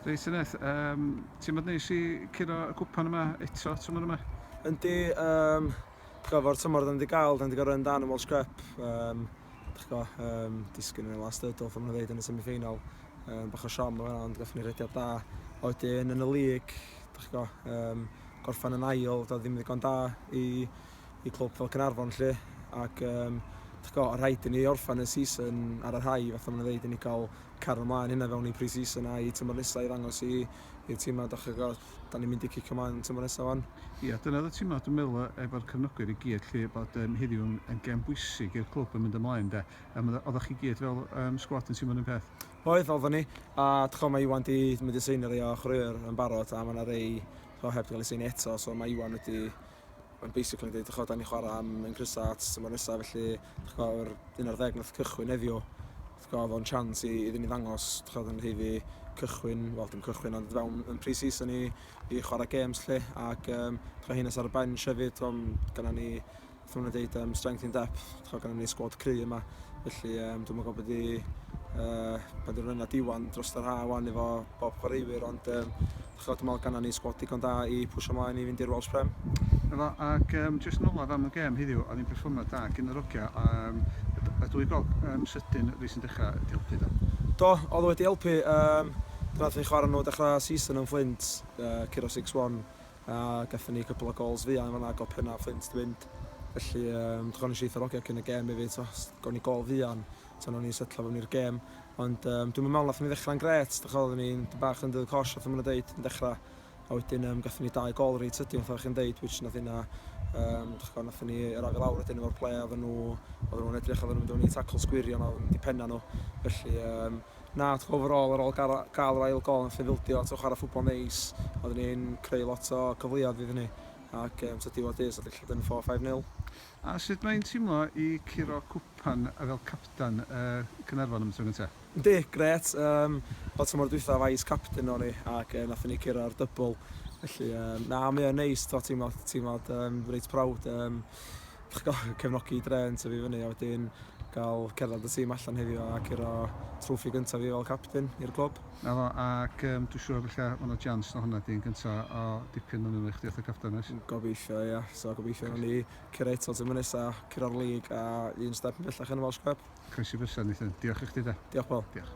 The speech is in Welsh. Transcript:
Reit Senedd, um, ti'n mynd neis i curo y gwpan yma eto tymor yma? Yndi, um, gyfo'r tymor ddim wedi gael, ddim wedi gorau yn dan yn Welsh Cup. Um, Dych go, um, disgyn yn y last hurdle, ffam nhw'n ddeud yn y semi-final. Um, bach o siom yma, ond gallwn ni rediad da. Oedyn yn y lig, dych go, um, gorffan yn ail, doedd ddim ddigon da i i clwb fel Caernarfon 'lly ac um, dych chi'n gwybod, rhaid i ni orffen y season ar y rhai, fatha mae'n dweud, i ni gael cario ymlaen hynna fewn i pre-season a i tymor nesaf i ddangos i, i'r tîmau, dych chi'n gwybod, da ni'n mynd i cicio ymlaen yn tymor nesaf fan. Ie, yeah, dyna y tîmau, dwi'n meddwl, e, efo'r cyfnogwyr i gyd, lle bod um, heddiw yn, yn gem bwysig i'r clwb yn mynd ymlaen, de. Um, oeddech chi gyd fel um, sgwad yn tîmio'n un peth? Oedd, oeddwn ni, a dych chi'n mae Iwan di mynd i seinio rei o chrwyr yn barod, a mae yna rei, dych chi'n heb gael ei seinio eto, so mae Iwan wedi mae'n basically yn dweud, chwa, da ni chwarae am yn grysa at tymor nesaf, felly, chwa, yr 11 nath cychwyn heddiw, chwa, fo'n chance i, iddyn ni ddangos, chwa, yn heiddi cychwyn, wel, dim cychwyn, ond fewn yn pre-season i, i chwarae games, lle, ac, um, chwa, hyn ar y bench hefyd, chwa, gyda ni, chwa, nhw'n dweud, um, strength in depth, chwa, gyda ni sgwad cry yma, felly, um, dwi'n meddwl bod i, uh, bod i'r rhywun a diwan dros yr ha, wan efo bob chwaraewyr, ond, um, Ch'od dwi me'wl gannon ni sgwad digon da i pwsio mlaen i fynd i'r Welsh Prem. Na fo, ac yym jyst yn olaf am y gêm heddiw, o'dd 'i'n perfformiad da gin yr ogia a yym y d- y dwy gog yym sydyn rei sy'n dechra 'di helpu do? Do, o'dd o wedi helpu yym pan nathon ni chwara nhw dechra season yn Fflint yy curo six one a gathon ni cwpwl o gols fuan yn fan'na ag o' pena Fflint 'di mynd felly yym dwi ch'od nesh i eitha o'r ogia cyn y gêm efyd t'mo' s- gawn ni gol fuan Tibod, o'n i'n setlo fewn i'r gêm, ond um, dwi'm yn meddwl nath ni ddechrau'n gret, dych oedd ni'n bach yn dydd cosh, oedd yn dweud, yn dechrau, a wedyn um, gatho ni dau gol reit sydyn, oedd chi'n dweud, which nath yna, um, dych chi'n nath ni yr afi lawr wedyn efo'r ple, oedd nhw, oedd nhw'n edrych, oedd nhw'n mynd o'n i tacl sgwirion, oedd nhw'n dipenna nhw, felly, um, na, dych overall, ar ôl gael yr ail gol, nath ni fildio, tywch ar y ffwbol neis, oedd ni'n creu lot o cyfleoedd iddyn ni, ac um, tydi o dys, oedd ni'n lle dyn 4-5-0. A sut mae'n teimlo i curo cwpan fel capten y Caernarfon am y tro gyntaf? Yndi, grêt. Yym, wel tymor dwytha fai is capten o'n i ac yy nathon ni curo'r dybl felly yym na mae o'n neis t'mo' teimlo teimlo yym reit proud yym dych go- cefnogi dre yn tyfu fyny a wedyn ga'l cerddad y tîm allan heddiw a curo trwffi gynta fi fel capten i'r clwb. 'Na fo, ac yym dwi siŵr falla ma' 'na jians na honna 'di un gynta o dipyn o nwylo i chdi fatha capten oes? Gobeithio ia, so gobeithio nawn ni curo eto tymor nesa, curo'r lig a un step yn bellach yn y Welsh Cup. Croesi fysa Nathan. Diolch i chdi de. Diolch Paul. Diolch.